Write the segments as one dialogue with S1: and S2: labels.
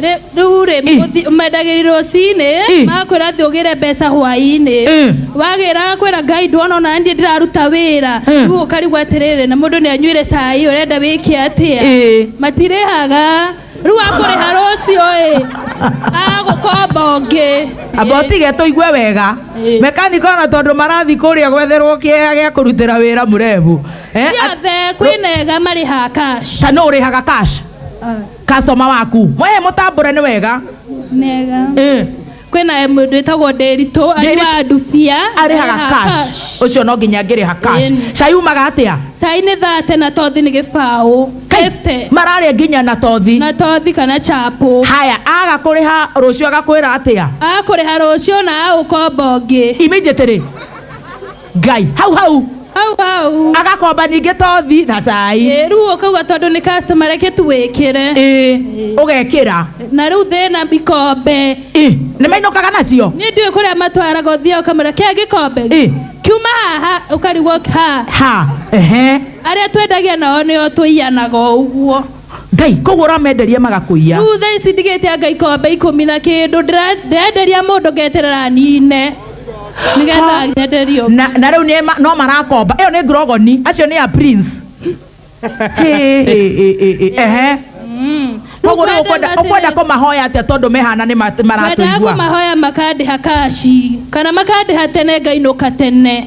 S1: Rĩ- rĩu rĩ mũthi- mendagĩri rũcinĩ makwĩra atĩ ũgĩre mbeca hwainĩ wagĩra kwĩra ngai ndwona ona niĩ ndĩraruta wĩra rĩu ũkarigwo atĩrĩrĩ na mũndũ nĩ anyuire cai ũrenda wĩke atĩa matirĩhaga rĩu akũrĩha rũciũ ĩ agũkomba ũngĩ amba ũtige tũigue wega mekaniko ona tondũ marathi kũrĩa gwetherwo kĩea gĩa kũrutĩra wĩra mũrebu Eh, at- ciothe kwĩnega marĩhaga cash ta nũ ũrĩhaga cash customer waku mwaye mũtambũre nĩ wega mega Eh, kwä na må ndå wä tagwo ndäritå Ndĩritũ. anyuaga ndubia arĩhaga cash ũcio no nginya ngĩrĩha cash Ĩni. cai umaga atĩa cai nä thate na tothi nä gä baå Kai, mararĩa nginya na tothi na tothi kana chapå haya aga kũrĩha rũciũ agakwĩra atĩa akå rä ha rå cio na agå komba å ngä immediately ngai hau hau hau hau agakomba ningĩ tothi na cai Ĩ, rĩu ũkauga tondũ nĩ customer reke tu wĩkĩre ĩ ũgekĩra na rĩu thĩna ikombe ĩ nĩ mainũkaga nacio niĩ ndiũĩ kũrĩa matwaraga ũthiaga ũkamera kĩa gĩkombe ĩ kiuma haha ũkarigwo ha ha ehe arĩa twendagia nao nĩo tũiyanaga o ũguo ngai koguo ũramenderia magakũiya rĩu thaa ici ndigĩte anga ikombe ikũmi na kĩndũ ndĩra- ndĩrenderia mũndũ ngeterera nine nĩgetha nyenderio na na rĩu nĩ ma- no marakomba ĩyo nĩ ngurogoni acio nĩ a prince Hĩ, hĩ, hĩ, hĩ, hĩ, ehe Mm. Rĩu koguo rĩu kwenda ũkwenda- ũkwenda atĩrĩ- kũmahoya atĩa tondũ mehana nĩ ma- kwendaga maratũigua kũmahoya makandĩha kaci kana makandĩha tene ngainũka tene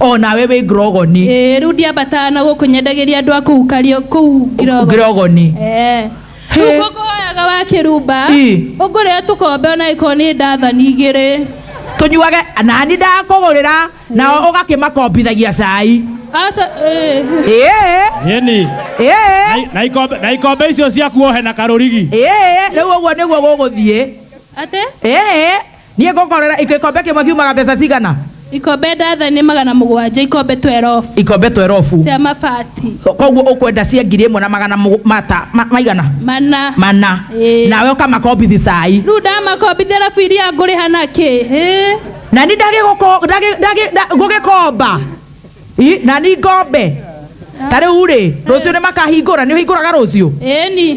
S1: o nawe wĩ ngirogoni Ĩĩ, rĩu ndiambataga na gũkũ nyendagĩria andũ a kũu kario kũu Ngirogo. ngirogoni Ĩĩ. He. Rĩu ngũkũhoyaga wa kĩrumba Ĩ. ũngũrĩe tũkombe ona ĩkorwo nĩ ndathani igĩrĩ tũnyuage nani ndakũgũrĩra nao ũgakĩmakombithagia cai Ata- ĩĩ. ĩĩ Yeni. ĩĩ Na ikombe na ikombe icio ciaku ohe na karurigi. ĩĩ rĩu ũguo nĩguo gũgũthiĩ Atĩ? ĩĩ Niĩ ngũkorera ikombe kĩmwe kiumaga mbeca cigana? Ikombe ndathani magana mũgwanja, ikombe twerobu. Ikombe twerobu. Cia mabati. Koguo ũkwenda cia ngiri ĩmwe na magana mata maigana? Mana. Mana. Nawe ũkamakombithi cai. Rĩu ndamakombithi arabu iria ngũrĩha na kĩ? Na ni ngũgĩkomba. Na ni ngombe. Ta rĩu rĩ, rũciũ nĩ makahingũra, nĩ ũhingũraga rũciũ? Ĩni.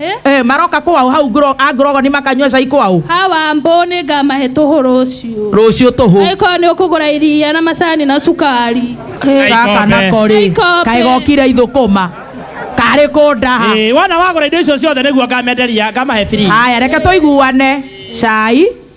S1: Eh? Eh, maroka kwao hau ngro- a ngorogoni makanyua cai kwao hawa ambũ nĩ ngamahe tũhũ rũciũ rũciũ tũhũ angĩkorwo nĩ ũkũgũra iria na macani na cukari Eh, gaka Aikombe. nako rĩ Aikombe. kaĩ gokire ithũkũma karĩ kũndaha Eh, wona wagũra indo icio ciothe nĩguo ngamenderia ngamahe free haya reke tũiguane cai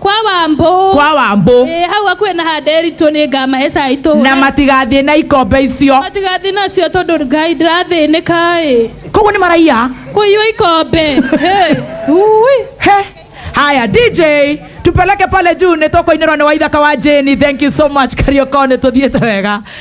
S1: kwa wambũ kwa wambũ Ĩĩ, hau hakuhĩ na ha nderitũ nĩ ngamahe cai tũhũre na matigathiĩ na ikombe icio matigathiĩ nacio tondũ ngai ndĩrathĩnĩka ĩ koguo nĩ maraiya kũiywo ikombe Hey, ui. He. haya dj tupeleke pale juu nĩ tũkũinĩrwo nĩ waithaka wa jeni thank you so much kariokone tũthiĩte wega